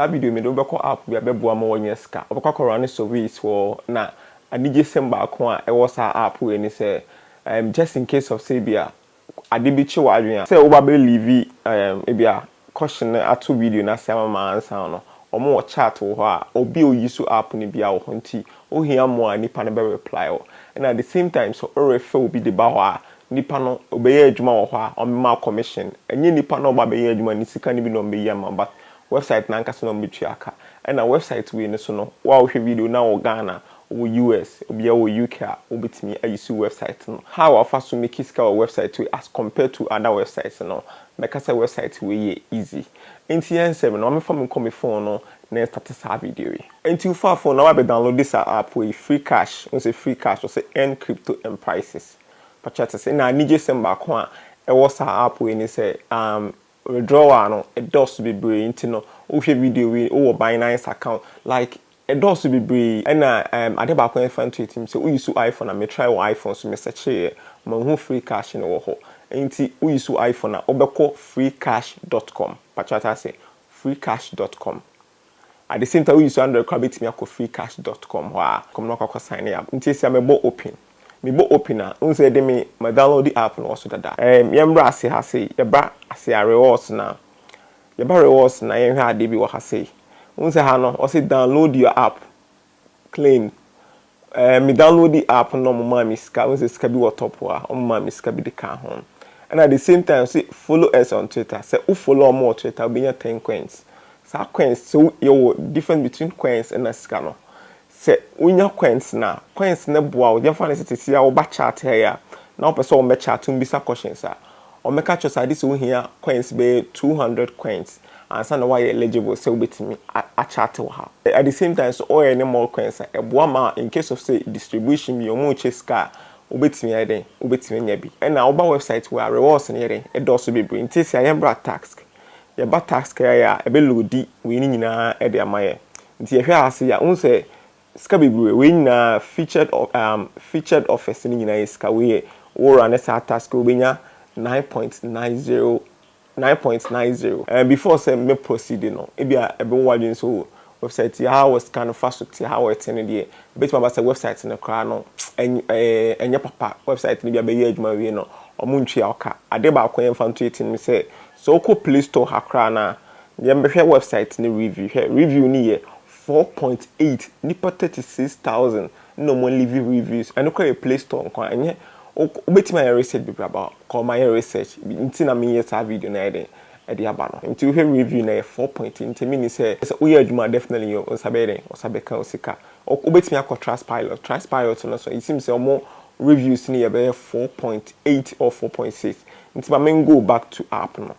Saa video mede wo bɛkɔ app bi a ɛbɛboa ma woanya sika. Wobɛkɔ akɔ runne surveys wɔ hɔ na anigyesɛm baako a ɛwɔ saa app wei ne sɛ um just in case of sɛ ebia ade bi kye w'adwene a, sɛ woba bɛ leave um ebia caution no ato video no ase ama ma ansa no, wɔn wɔ chat wɔ hɔ a obi a oyi so app no biara wɔ hɔ nti wohia mmoa a nnipa no bɛ reply wo. Ɛna at the same time sɛ worefɛ obi de ba hɔ a, nnipa no ɔbɛyɛ adwuma wɔ hɔ a wɔbɛma wo commission. Ɛnyɛ nnipa no a wɔba abɛyɛ adwuma no sika no bi na wɔbɛyi ama wo but Wɛbsaet no ankasa na wɔbɛtua ka. Ɛna wɛbsaet wei no so no, wo a wohwɛ video no na wowɔ Ghana, wowɔ US, obia wɔ UK a, wobɛtumi a use wɛbsaet no. How a wofa so make sika wɔ wɛbsaet wei as compared to other wɛbsaets no, mɛka sɛ wɛbsaet wei yɛ easy. Nti yɛ nsɛm no, ma memfa me nkɔ me phone no na yɛnstate saa video yi. Nti wofa phone no na woabɛ download saa app wei, Freecash, wohu sɛ Freecash ɔse earn crypto and prices. Pakyɛ woate ase? Na anigyesɛm baako a ɛwɔ saa app wei ne sɛ, umm, Withdrawal no dɔɔso bebree nti no wohwɛ video wei wowɔ Binance account like ɛdɔɔso bebree ɛna ɛɛm ade baako a ɛnfa nto yɛ tirim sɛ wo use iPhone a me try wɔ iPhone so me searchee yɛ manhu free cash no wɔ hɔ nti wo use iPhone a wobɛkɔ freecash dot com pakyɛ wate aseɛ freecash dot com At the same time wo use Android koraa bɛtumi akɔ freecash dot com hɔ a kɔm na wakɔ akɔ sign up nti ɛsɛ mɛbɔ open me bɔ open a wohu sɛ ɛde me ma download app no wɔ so dada ɛɛm yɛn bra ase ha sei yɛba ase a rewards no a yɛba rewards no a yɛn hwɛ adeɛ bi wɔ ha sei wohu sɛ ha no ɔse download your app Clean ɛɛ me downloadi app no na ɔmo maa me sika wohu sɛ sika bi wɔ top hɔ a ɔmo maa me sika bi de kaa ho ɛna the same time se follow us on twitter sɛ wo follow ɔmo wɔ twitter wobɛnya ten coins saa coins sɛ wo yɛwɔ difference between coins ɛna sika no sɛ wonya coins no a coins no boa wo yɛmfa no sɛ sɛsi a woba chat ha yi a na wopɛ sɛ ɔmo bɛ chat wo mbisa questions a Wɔbɛka akyerɛ wo sɛ ade sɛ wohia coins bɛyɛ two hundred coins ansa na woayɛ eligible sɛ wobɛtumi akyate wɔ ha. At the same time nso wɔyɛ ne more coins a, ɛboa ma in case of sɛ distribution bi wɔrekyɛ sika a, wobɛtumi ayɛ dɛn? Wobɛtumi anya bi. Ɛna woba website wei a, rewards no yɛ dɛn? Ɛdɔɔso bebree. Nti seesei a yɛmmra task. Yɛba task a ɛyɛ a, ɛbɛloadi wei no nyinaa de ama yɛn. Nti yɛhwɛ ha ase yi a, wohu sɛ Sika bebree, wei nyinaa featured of um, featured offers no nyinaa yɛ sika, wei yɛ wo run saa task yi wobɛnya nine point nine zero, nine point nine zero. Um, before sɛ me proceed no, ebi a ɛbɛwɔ w'adwene sɛ oh, website yi how a sika no fa so te, how a ɛte no deɛ, ɛbɛtumi aba sɛ website no koraa no ɛny ɛɛ ɛnyɛ papa, website no bi a bɛyɛ adwuma awie no wɔn ntua wo ka. Adeɛ baako a yɛmfa nto yɛ tirim ne sɛ, sɛ wokɔ play store ha koraa no a, yɛn bɛhwɛ website no review, hwɛ review no yɛ Four point eight nipa thirty six thousand na ɔmo livi reviews ɛno koraa yɛ play store nkoaa ɛnyɛ wo betumi ayɛ research bebree aba hɔ kɔɔ ma yɛ research nti na me yɛ saa video no ayɛ den ɛde aba no nti wo hwɛ review no ɛyɛ four point eight nti me nim sɛ sɛ wo yɛ adwuma definitely yɛ wo nsa bɛyɛ den wo sa bɛ ka wo sika wo betumi akɔ trustpilot trustpilot no so it seems sɛ ɔmo reviews no yɛ bɛ yɛ four point eight or four point six nti ma me go back to app no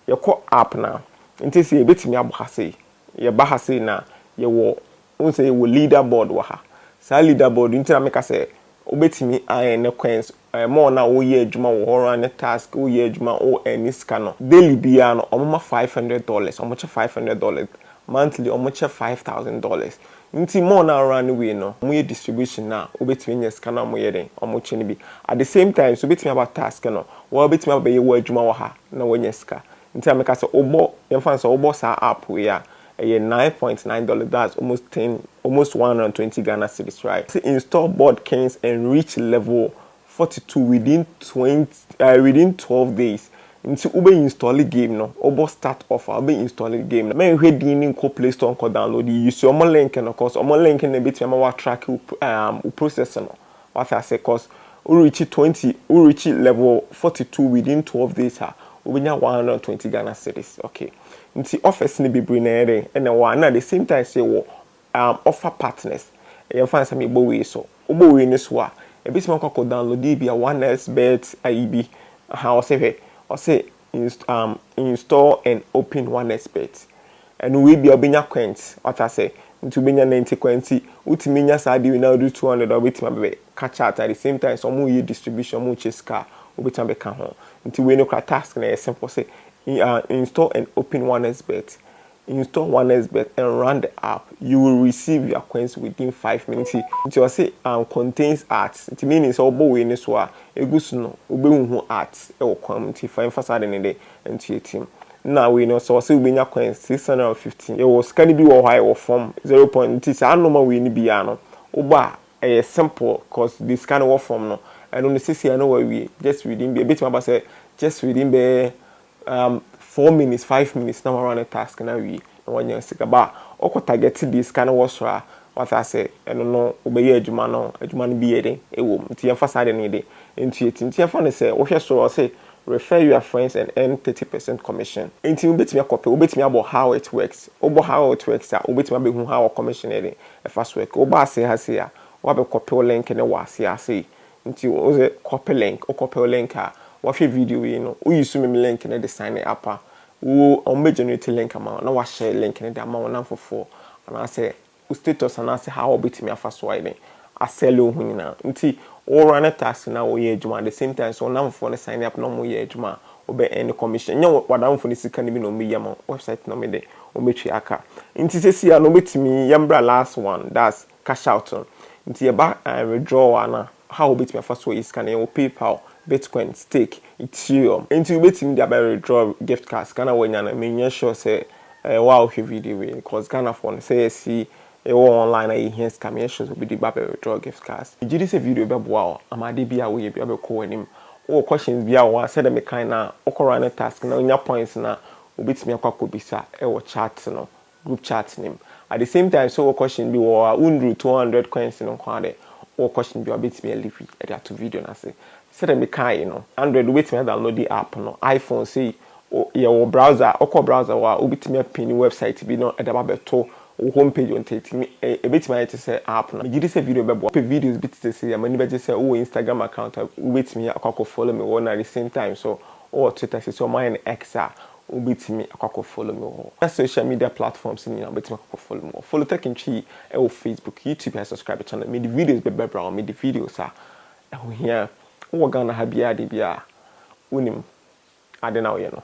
yɛ kɔ app no a nti sɛ yɛ betumi abɔ ha sei Yɛba ha sei no a, yɛwɔ, wohu sɛ yɛwɔ leader board wɔ ha. Saa leader board yi nti na meka sɛ wobɛtumi ayɛ ne coins, eh, more na woyɛ adwuma wɔ hɔ ara ne task, woyɛ adwuma, wo earn sika no. Daily biara no, wɔma five hundred dollars, wɔkyɛ five hundred dollars, monthly wɔkyɛ five thousand dollars. Nti more na wo run wei no, wɔyɛ distribution no a, wobɛtumi anya sika no a wɔyɛ dɛn, wɔkyɛ no bi. At the same time nso, wobɛtumi aba task no, wo ara wobɛtumi abɛyɛ w'adwuma wɔ ha na woanya sika. Nti na meka sɛ wobɔ, yɛmfa no sɛ wobɔ saa app wei a, ɛyɛ nine point nine dollars, that's almost ten, almost one hundred and twenty Ghana cedis right? Ɔse install Boardkings and reach level forty two within twenty eh, within twelve days. Nti wobɛ install game no, wobɔ start off a, wobɛ install game no. Mɛnhwɛ din no nkɔ play store nkɔ download, use wɔn link no cause wɔn link no na ɛbɛtumi ama wo atracke wo eh, wo process no. Wate ase cos wo reachi twenty wo reachi level forty two within twelve days a wo bɛnya one hundred and twenty Ghana cedis ok nti offers no bebree na ɛyɛ dɛn ɛna ɛwɔ ha na the same time nso yɛwɔ um offer partners yɛn mfa no sɛ mebɔ wei so wo bɔ wei no so a ɛbɛtumi akɔ akɔ download bi a one xbet ayi bi aha ɔse hwɛ ɔse inst um, install and open onexpert ɛno wei bia wobɛnya kwɛnt wata sɛ nti wobɛnya na nti kwɛnti wotumi nya saa deɛ na wode 200 a wobɛtumi abɛbɛ ka chat at the same time sɛ ɔmo yɛ distribution ɔmo kyɛ sika a wobɛtumi abɛka ho nti wei no kora task na ɛyɛ simple sɛ uh, install and open onexpert Install onexbet and run the app you will receive your coins within five minutes nti nti ɔse and contains ads nti meaning sɛ wobɔ wei no so a egu so no wobɛhuhu ads wɔ kwan mu nti fa mfa saa ade no de ntua tim na wei no sɛ ɔse wobɛnya coins six hundred and fifty yɛwɔ sika no bi wɔ hɔ a ɛwɔ fam zero point nti saa nnoɔma wei no biaa no wobɔ a ɛyɛ simple cause deɛ sika no wɔ fam no ɛno no sesei a na wawie just within bɛɛ ɛbɛtumi aba sɛ just within bɛɛ Um four minutes five minutes na wɔara ne task no awie na wɔanya sika ba ɔkɔ target deɛ sika no wɔ soro a wate ase ɛno no wobɛyɛ adwuma no adwuma no bi yɛ den ɛwɔ mu nti yɛmfa saa deɛ no yɛ den nti ɛti nti yɛmfa no sɛ wohwɛ soro ɔse refer your friends and earn thirty percent commission nti wobɛtumi akɔpɛ wobɛtumi abɔ how it works wobɔ how it works a wobɛtumi abɛhu how commission ɛde ɛfa so work woba ase ha sei a woabɛkɔpɛ link no wɔ ase ase Nti wo dze copy link, wo copy link a, wɔhwɛ video yi no, wo use me link no de sign up a, wo wɔn bɛ generate link ama wo na wa share link no de ama wo namfofoɔ anaa sɛ wo status anaa sɛ how a wɔbɛtumi afa so ayɛ dɛn a sell wo ho nyinaa. Nti wo run taxi na wo yɛ adwuma at the same time nso wo namfofoɔ no sign up na wɔn yɛ adwuma a, wo bɛ earn commission. Nyɛ wo w'adamfo no sika no bi na wɔn bɛ yi ama wo, website na wɔn de wɔn bɛ tua ka. Nti sɛsi ara no wobɛtumi, yɛn bra last one, that's. Cash out no. Nti yɛba withdrawal a na how wobɛtumi afa so ayi sika no yɛwɔ paypal, bitcoin, stake, ethereum. Nti wobɛtumi de abɛ withdraw gift card sika no a wanya no menyɛ sure sɛ ɛyɛ wo a wohwɛ video wei no cause Ghanafoɔ no sɛ yɛsi yɛwɔ online a yɛhia sika menyɛ sure sɛ obi de ba bɛ withdraw gift cards. Megye di sɛ video yi bɛboa wo ama adeɛ biara a woyɛ biara bɛkɔ w'anim. Wowɔ questions biara wɔ hɔ a sɛdeɛ mekae no a wokɔ run task na wonya points no a wobɛtumi akɔ akɔbisa wɔ chat no group chat no mu at the same time sɛ ɔwɔ question bi wɔ hɔ a wonduru two hundred coins no nko ara dɛ wowɔ question bi a wobɛtumi a leave de ato video no ase sɛdeɛ mekaae no Android wobɛtumi a downloadi app no iPhone sei yɛwɔ browser a wokɔ browser hɔ a wobɛtumi a pini website bi na ɛde aba abɛto wo home page nti ɛtumi ɛbɛtumi ayɛ te sɛ app no megyedi sɛ video bɛboa wopɛ videos bi tete sei a m'ani bɛgye sɛ wowɔ Instagram account a wobɛtumi akɔ akɔ follow me wɔ hɔ na at the same time nso wowɔ Twitter seisei wɔayɛ no X a Wobɛtumi akɔ akɔ follow me wɔ na social media platforms no nyinaa wobɛtumi akɔ akɔ follow me wɔ follow Tech Ntwi yi wɔ Facebook, YouTube and subscribe channel mede videos bɛbrɛ wo mede videos a ɛho hia wowɔ Ghana ha biara de bi a wonim ade no a woyɛ no.